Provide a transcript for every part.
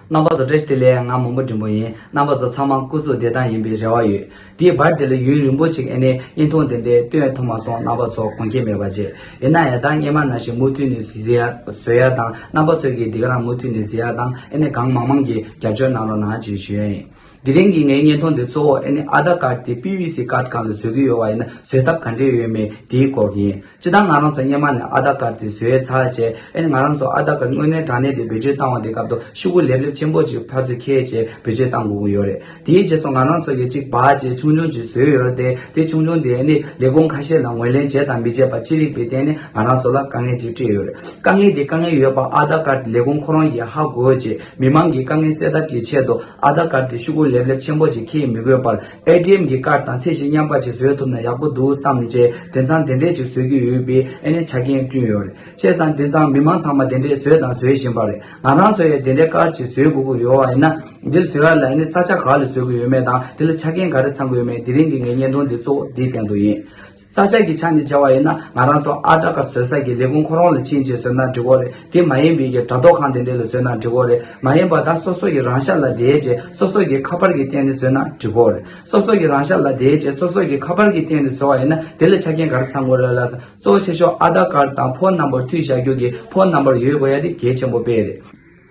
རྣམ་པ་ཚོ་བཀྲ་ཤིས་བདེ་ལེགས་ང་མོན་པོ་འབྲིང་པོ་ཡིན་རྣམ་པ་ཚོ་ཚང་མ་སྐུ་གཟུགས་བདེ་ཐང་ཡིན་པའི་རེ་བ་ཡོད། དེའི་བར་དེ་ལ་ཡུན་རིང་པོ་ཅིག་ཨེ་ནས་དབྱིན་ཐུང་དེ་འདྲའི་སྟོད་ཡ་ཐུང་མ་སོང་རྣམ་པ་ཚོ་གོང་ཁྱེད་མེད་པ་རྗེས་ཡིན་ན་ཡ་དང་སྙེ་མ་ན་ཞིག་མུ་མཐུད་ནས་བཟི་ཡ་ཟོས་ཡ་དང་རྣམ་པ་ཚོས་ཀྱིས་འདི་ག་རང་མུ་མཐུད་ནས་བཟི་ཡ་དང་ཨེ་ནས་གང་མང་མང་གིས་རྒྱབ་སྐྱོར་གནང་རོགས་གནང་ཅེས་ཞུ་ཡ་ཡིན། དེ་རིང་གི་ངའི་བརྙན་ཐུང་འདི་གཙོ་བོ་ཨེ་ནས་ཨ་དར་ཀར་དེ PVC card གང་ལ་བཟོས་ཀྱི་ཡོད་བ་ཡིན་ན་བཟོས་ཐབས་ག་འདྲས་ཡོད་མེད་དེའི་སྐོར་ཡིན། ཅི་ལྟར་ང་རང་ཚོ་སྙེ་མ་ནས་ཨ་ད་ཀར་དུ་བཟོས་ཡོད་ཚར་རྗེས་ཨེ་ང་རང་ཚོ་ཨ་ད་ཀར་དངོས་གནས་དྲང་གནས་དེ་བེད་སྤྱོད་བཏང་བ་དེ་སྐབས་དོ་ཤུ་བོ་ལེབ་ལེབ་ཆེན་པོ་གཅིག་ཕར་ཚུར་ཁྱེར་རྗེས་བེད་སྤྱོད་བཏང་དགོས་ཀྱི་ཡོད་རེད་དེའི་རྗེས་སུ་ང་རང་ཚོ་ཡོད་ཅིག་བར་གྱི་ཆུང་ཆུང་གཅིག་བཟོས་ཡོད་རེད་དེ་དེ་ཆུང་ཆུང་དེ་ནི་ལས་ཁུངས་ཁ་ཤས་ལ་ངོས་ལེན་བྱས་དང་མི་བྱས་པ་ཅི་རིགས་པའི་སྟེང་ནས་ང་རང་ཚོ་ལ་དཀའ་ངལ་ཅིག་འཕྲད་ཡོད་རེད་དཀའ་ངལ་དེ་དཀའ་ངལ་ཡོད་པ་ཨ་ད་ཀར་ལས་ཁུངས་ཁོ་རང་གིས་ཧ་གོ་རྗེས་མི་མང་གི་དཀའ་ངལ་སེལ་ཐབས་ཀྱི་ཆེད་དུ་ཨ་ད་ཀར་དུ་ཤུ་བོ་ལེབ་ལེབ་ཆེན་པོ་གཅིག་ཁྱེར་མི་དགོས་པར། ADM གྱི་ཀར་དང་ཚད་གཞི་མཉམ་པ་ཅིག་བཟོས་ཐུབ་ན་ཡག་པོ་འདུག་བསམ་རྗེས་དེ་མཚང་དེ་འདྲས་ཅིག་བཟོས་ཀྱི་ཡོད་པས་ཨེ་ནས་ཆ་རྐྱེན་བསྐྲུན་ཡོད་རེད་བཤད་ཙང་དེ་མཚང་མི་མང་ཚང་མ་དེ་འདྲས་བཟོས་དང་བཟོས་བཞིན་པ་རེད་ང་རང་ཚོ་ཡང་དེ་འདྲས་ཀར་ཅིག་བཟོས་དགོས་ཀྱི་ཡོད་བ་ཡིན་ན། འདིར་བཟོས་ཡ་ལ་ཨེ་ནས་ས་ཆ་ག་ལ་བཟོས་ཀྱི་ཡོད་མེད་དང་དེ་ལ་ཆ་རྐྱེན་ག་རེ་ཚང་གི་ཡོད་མེད་དེ་རིང་གི་ངའི་བརྙན་ཐུང་འདི་གཙོ་བོ་འདིའི་སྟེང་དུ་ཡིན། ས་སྐྱ་ཀྱི་ཆ་ནས་བྱ་བ་ཡིན་ན་ང་རང་ཚོ་ཨ་བྲ་ཀ་བཟོས་ས་ཀྱི་ལས་ཁུངས་ཁོ་རང་ལ་ཕྱིན་ཅེས་བཟོས་ན་འགྲིག་གོ་རེད་དེ་མ་ཡིན་པའི་ཀྱི་དྲ་ཐོག་ཁང་དེ་འདྲས་ལ་བཟོས་ན་འགྲིག་གོ་རེད་མ་ཡིན་པ་ད་སོ་སོ་ཡི་རང་ཤ་ལ་དེའི་རྗེས་སོ་སོ་ཀྱི་ཁ་པར་གྱི་སྟེང་ནས་བཟོས་ན་འགྲིག་གོ་རེད་སོ་སོ་ཡི་རང་ཤ་ལ་དེའི་རྗེས་སོ་སོ་ཀྱི་ཁ་པར་གྱི་སྟེང་ནས་བཟོ་བ་ཡིན་ན་དེ་ལ་ཆ་རྐྱེན་ག་རེ་ཚང་དགོས་རེད་ལ་ད་གཙོ་བོ་ཆེ་ཤོག་ཨ་བྲ་ཀར་དང་ཕོ་རྣམ་པར་མཐུད་བྱ་རྒྱུ་གི་ཕོ་རྣམ་པར་ཡོད་དགོས་ཡ་དེ་གལ་ཆེན་པོ་དཔེ་རེད།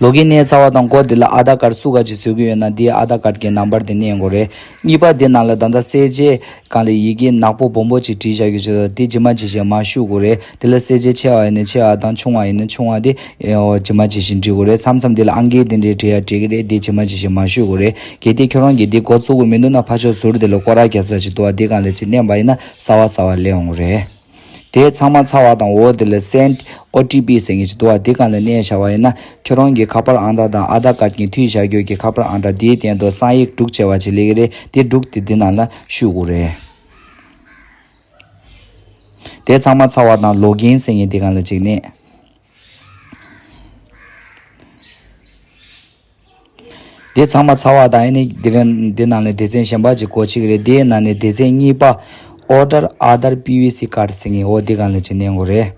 ལོ་གི་གནས་ཚ་བ་དང་གོ་དེ་ལ་ཨ་དར་ཀར་སུ་ག་ཅིག་བཟོས་ཀྱི་ཡོད་ན་དེའི་ཨ་དར་ཀར་གྱི་ནང་པར་དེ་གནས་འགོ་རེད། གཉིས་པ་དེ་ནང་ལ་ད་ལྟ་གསལ་བྱེད་གང་ལས་ཡི་གེ་ནག་པོ་སྦོམ་པོ་ཅིག་བྲིས་བཞག་གི་བྱོས་དང་དེ་ཇི་མ་ཇི་བཞིན་མར་བཤུ་དགོ་རེད་དེ་ལ་གསལ་བྱེད་ཆེ་བ་ཡིན་ན་ཆེ་བ་དང་ཆུང་བ་ཡིན་ན་ཆུང་བ་དེ་ཇི་མ་ཇི་བཞིན་བྲི་དགོ་རེད་མཚམས་མཚམས་དེ་ལ་ཨང་ཀི་དེ་འདྲས་བྲི་ཡ་བྲི་གི་རེད་དེ་ཇི་མ་ཇི་བཞིན་མར་བཤུ་དགོ་རེད་གལ་ཏེ་ཁྱོད་རང་གིས་དེ་འགོ་བཙུགས་གི་མི་འདུག་ན་ཕ་ཕྱོགས་ཟུར་དེ་ལ་སྐོར་ར་རྒྱག་ས་ཅིག་འདུག་ཨ་དེ་གང་ལས་ཅིག་གནས་པ་ཡིན་ན་སྲ་བ་སྲ་བ་ལས་འོང་གི་རེད། དེས་ཚང་མ་ཚ་བ་དང་འོ་དེ་ལ་སེན། OTP། ཟེར་མཁན་ཞིག་འདུག་བ་འདི་གང་ལ་གནས་བྱ་བ་ཡིན་ན་ཁྱོད་རང་གི་ཁ་པར་ཨང་གྲངས་དང Aadhar Card གྱི་མཐུད་བྱ་རྒྱུ་གི་ཁ་པར་ཨང་གྲངས་དེའི་སྟེང་དུ་གསང་ཡིག་དཀྲུག་ཆེ་བ་ཞིག་ལེ་གི་རེད་དེ་དཀྲུག་དེ་འདི་ནང་ལ་བཤུས་དགོས་རེད། དེས་ཚང་མ་ཚ་བ་དང Login ཟེར་མཁན་འདི་གང་ལ་ཅིག་གནས། དེ་ཚང་མ་ཚ་བ་དང་ཨེ་ནི་འདི་རེད། འདི་ནང་ལས་སྡེ་ཚན་གཞན་པ་གཅིག་གོ་གཅིག་རེད་དེའི་ནང་ནས་སྡེ་ཚན་གཉིས་པ། Order Other PVC Card ཟེར་ངེས་འོ་འདི་གང་ལས་ཀྱི་གནས་འགོ་རེད།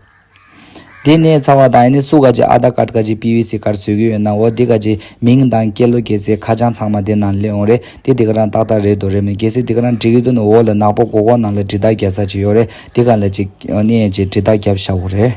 དེ་ནས་ཚ་བ་དང་ཨེ་ནི་སུ་ག་གཅིག Other Card ག་གཅིག PVC Card བཟོས་གི་ཡོད་ནམ་འོ་འདི་ག་གཅིག་མིང་དང་སྐད་ལོ་སྐད་ཚེ་ཁ་བྱང་ཚང་མ་དེ་ནང་སླེབས་འོང་རེད་དེ་འདི་ག་རང་ཏག་ཏག་རེད་འདུག་རེད་མོད་གལ་སྲིད་འདི་ག་རང་འབྲི་གི་འདུག་ན་འོ་ལ་ནག་པོ་གོ་གོ་ནང་ལ་འབྲི་དག་རྒྱག་ས་གཅིག་ཡོད་རེད་དེ་གང་ལས་ཀྱི་འོ་ནི་ཨེ་ཅེ་འབྲི་དག་རྒྱབ་ཤ་བོ་རེད།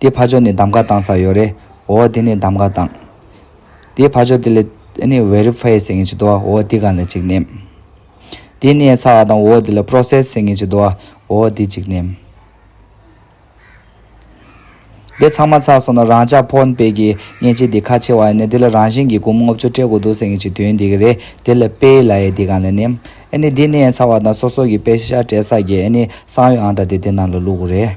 དེའི་ཕ་ཕྱོགས་ནས་གདམ་ག་བཏང་ས་ཡོད་རེད། འོ་དེ་ནས་གདམ་ག་བཏང། དེའི་ཕ་ཕྱོགས་དེ་ལས་ཨནི་བྷེ་རི་ཕྷའི་ཟེར་མཁན་ཞིག་འདུག་ཨོ་དེ་ག་ལ་ཅིག་ནེམ། དེ་ནས་ཚ་བ་དང་འོ་དེ་ལ་ཕྷྲོ་སེས་ཟེར་མཁན་ཞིག་འདུག་ཨོ་དེ་ཅིག་ནེམ། དེ་ཚང་མ་ཚར་སོང་ན་རང་ཅག་ཕོ་དཔེ་གི་མཉེན་ཆས་དེ་ཁ་ཆེ་བ་ཡིན་ན་དེ་ལ་རང་བཞིན་གྱིས་གུང་མོ་ལྔ་བཅུ་སྤྲད་དགོས་འདུག་ཟེར་མཁན་ཞིག་དོན་དེ་ག་རེད་དེ་ལ་དཔེ་ཡི་ལ་ཡའི་དེ་ག་ལ་ནེམ། ཨནི་དེ་ནས་ཚ་བ་དང་སོ་སོ་གི་དཔེ་ཤ་སྤྲད་ས་གི་ཨནི་གསང་ཡོད་ཨང་འདྲ་དེ་དེ་ནང་ལ་བླུག་དགོས་རེད།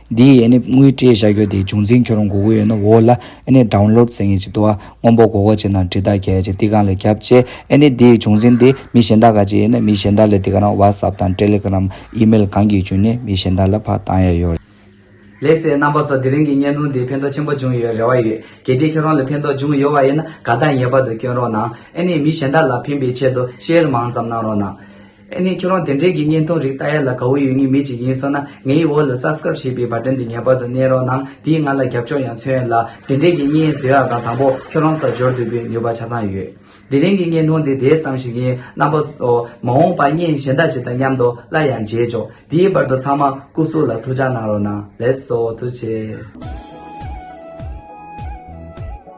འདིའི་ཡས་ནིབ་དངུལ་སྤྲད་བཞག་རྒྱུ་དེའི་འབྱུང་འཛིན་ཁྱོད་རང་གོ་གི་ཡོད་ན་འོ་ལ་ཨེ་ནི་སྒྲའུ་ལོར་རྩེ་ངེས་ཅིག་ཏུ་ཨ་སྔོན་པོ་གོ་གོ་བྱེད་ནང་བྲིས་རྟགས་གལ་ཆེ་ཏི་གང་ལས་རྒྱབ་བཅས་ཨེ་ནི་འདིའི་འབྱུང་འཛིན་དེ་མི་གཞན་དག་ག་ཅིག་ཡིན་ན་མི་གཞན་དག་ལས་ཏི་ག་རང་བྷ་སབ་དང་ཏྲེ་ལི་གི་རམ་ཨི་མེལ་གང་གིས་བྱུང་ནས་མི་གཞན་དག་ལ་ཕག་བཏང་ཡས་ཡོད་རེད། ལེགས་སེ་རྣམ་པ་ཚོ་དེ་རིང་གི་བརྙན་ཐུང་འདི་ཕན་ཐོག་ཆེན་པོ་འབྱུང་ཡོད་རེ་བ་ཡོད་གལ་ཏེ་ཁྱོད་རང་ལ་ཕན་ཐོག་འབྱུང་ཡོད་བ་ཡིན་ན་དགའ་རྟགས་ངེས་པར་དུ་བསྐྱོན་རོགས་གནང་ཨེ་ནི་མི་གཞན་དག་ལ་ཕན་པའི་ཆེད་དུ Share མང་ཙམ་གནང་རོགས་གནང། ཨེ་ནས་ཁྱོད་རང་དེ་འདྲའི་དགེ་བསྙེན་ཐོང་རིགས་ལྟ་ཡ་ལ་དགའ་བོ་ཡོད་ངེས་མེད་ཅིག་ཡིན་སོང་ན་ངའི་འོག་ལ Subscribe ཞེས་པའི Button དེ་ངེས་པར་དུ་གནས་རོགས་གནང་དེས་ང་ལ་རྒྱབ་སྐྱོར་ཡང་མཚོན་ཡོད་ལ་དེ་འདྲའི་དགེ་བསྙེན་བཟོས་ཡག་དང་དང་པོ་ཁྱོད་རང་ལྟར་འབྱོར་དུས་པའི་ནུས་པ་ཆ་ཚང་ཡོད། དེ་རིང་གི་བསྙེན་ཐོང་འདི་དེ་ཙམ་ཞིག་ཡིན་རྣམ་པ། མ་འོངས་པར་བསྙེན་གཞན་དག་ཅིག་དང་མཉམ་དུ་སླར་ཡང་མཇལ་ཆོག་དེའི་བར་དུ་ཚང་མ་སྐུ་གཟུགས་ལ་ཐུགས་ཅག་གནང་རོགས་གནང་ལེགས་སོ་ཐུགས་ཆེ།